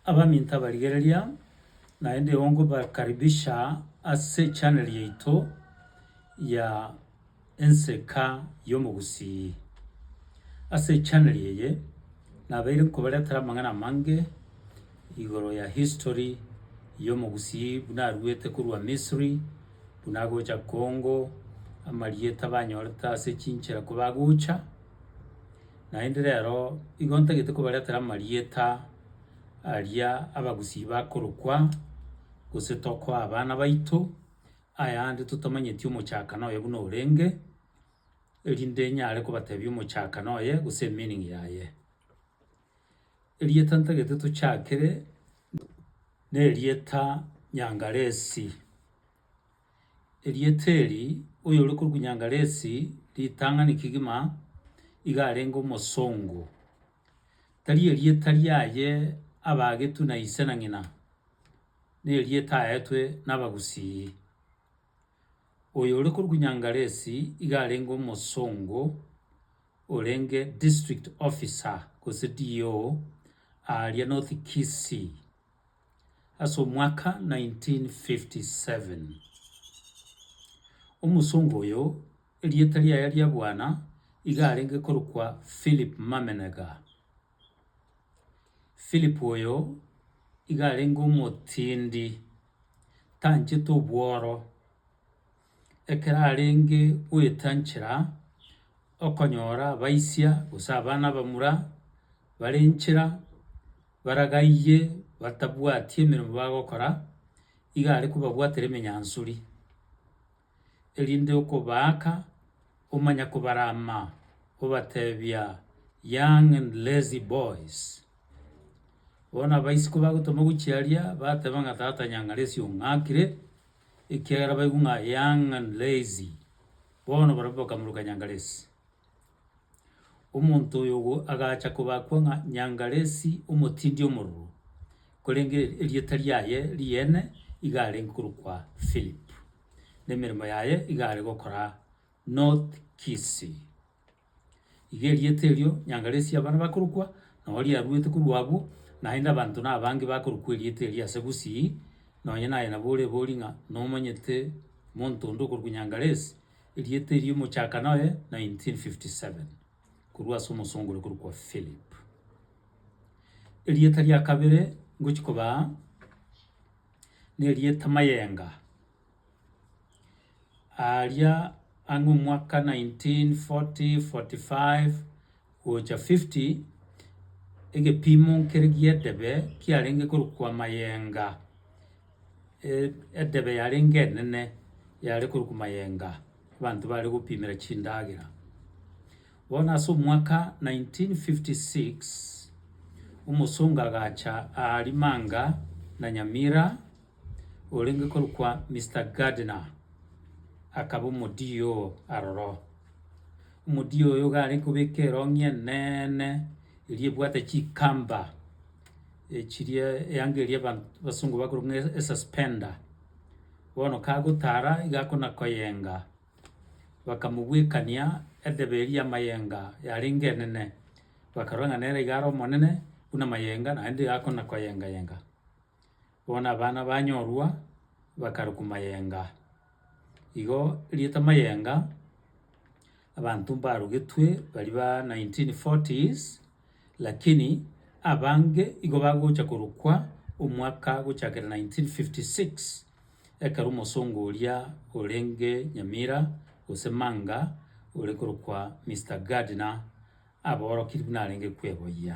Abaminto abarigereria, naende igo nkobakaribisha ase echaneli yaito ya Enseka y'Omogusii. Ase echaneli eye, nabeire nkobaretera amang'ana amange igoro ya history y'Omogusii buna aruete korwa Misiri, buna agocha Congo, amarieta abanyorete ase chinchera kobagocha. Naende rero igo ntagete kobaretera amarieta aria abagusii bakorokwa, gose tokoa abana baito, ayande totamanyeti omochakano oye buna orenge, erinde nyare kobatebia omochakano oye gose emeaning yaye. Erieta ntagete tochakere, nerieta Nyangalesi, Erieta eri, oyore korwa Nyangalesi, ritang'ani kegima iga arenge omosongo. Tari erieta riaye abaagetwe na ise na ng'ina, nerieta aetwe nabagusii. Oyore korwa Nyangalesi iga arenge omosongo orenge district officer gose DO aaria North Kisii. Ase omwaka 1957, omosongo oyo erieta riaye ria bwana iga arenge korokwa Philip Mamenega. Philip oyo iga arenge omotindi, tanchete obworo. Ekero arenge goeta nchera, okonyora abaisia gose abana abamura bare nchera baragaiye batabwati emeremo bagokora, iga are kobabwatera emenyansori, erinde okobaaka omanya kobarama obatebia, young and lazy boys. Bono abaisi kobagotoma gochia aria, bateba ng'a tata nyang'ara esio ng'akire. ekiagera baigwe ng'a young and lazy, bono barabwo bakamoruka Nyangalesi. Omonto oyo ogo agacha kobakwa ng'a Nyangalesi omotindi omororo, korende erieta riaye riene iga arenge korokwa Philip, na emeremo yaye iga are gokora North Kisii. Iga erieta erio nyanga resie abana bakorokwa, na oria aruete korwa abwo, naende abanto nabange bakorokwa erieta erio ase Gusii, nonye naye nabo orebori ng'a nomanyete monto onde okorokwa Nyangaless, erieta erio mochaka noye 1957, korwa ase omosongo ore korokwa Philip. Erieta ria kabere ngochia kobaa, nerieta Mayenga. Aaria ang'e omwaka 1940-45, 50, egebiimo nkere gi'edebe kiarenge korokwa amayenga, edebe yarenge enene yare korokwa mayenga, abanto bare gopimera chindagera. Bono ase omwaka 1956, omosongo agacha aaria Manga na Nyamira orenge korokwa Mister Gardner akaba omodiia oo aroro. Omodiia oyo iga are kobeka erong'i eneene eria ebwate chikamba echiria eyanga eria aba abasungu bakorokwa ng'a e- esuspender. Bono kagotara iga akona koyenga, bakamobwekania edebe eria y'amayenga yarenge enene, bakarora ng'a nere iga are omonene buna amayenga naende iga akona koyenga yenga. Bono abana banyorwa bakarokwa mayenga. Igo rieta mayenga, abanto mbarogetwe baria ba nineteen forties, lakini abange igo bagocha korokwa omwaka gochakera nineteen fifty six, ekero omosongo oria orenge Nyamira gose Manga ore korokwa Mister Gardner, aborokiri buna arenge kweboyia.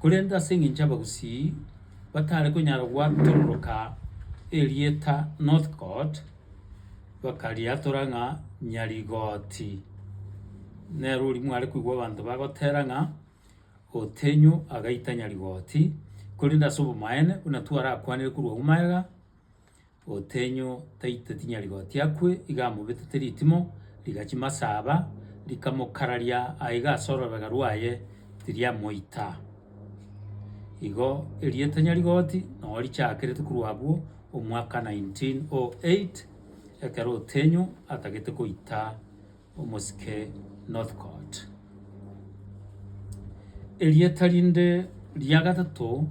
Korende ase engencho abagusii batare konyara gwatororoka erieta Northcote, bakariatora ng'a Nyarigoti. Nero oria mware koigwa abanto bagotera ng'a Otenyo agaita Nyarigoti, korende ase obomaene buna twarakwanire korwa Umaega, Otenyo taito tinyari gotia akwe, iga amobetete ritimo rigachia masaba, rikamokararia aiga ase orobega rwaye tiriamoita. Igo erieta nyari goti noo richakerete korwa abwo omwaka 1908 ekero Otenyo atagete koita. omosike Northcote. Erieta rinde ria gatato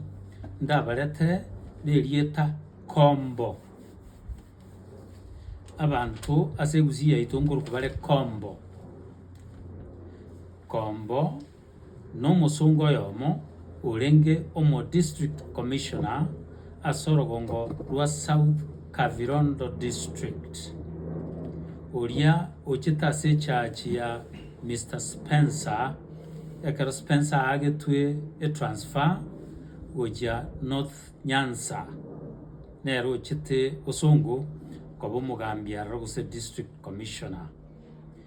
ndabaretere nerieta Kombo. Abanto ase egusi yaito nkorokwa bare Kombo. Kombo. nomosongo oyomo orenge omo District Commissioner ase orogongo rwa South Kavirondo District, oria ochete ase echachi ya Mister Spencer ekero Spencer aagetwe etransfer gochia North Nyanza nere ochete osongo koba omogambi aroro gose District Commissioner.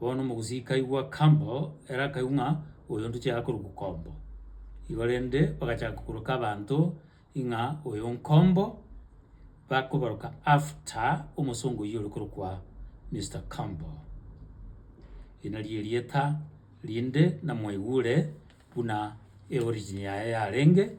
Bono omogusii kaigwa Campbell ere akaigwa ng'a oyo ntochaya korokwa Kombo. Igo rende bagachaka koroka abanto ng'a oyo Nkombo, bakoboroka after omosongo oyio ore korokwa Mister Campbell. Eri nario erieta rinde namwaigure buna eorigin yaye yarenge.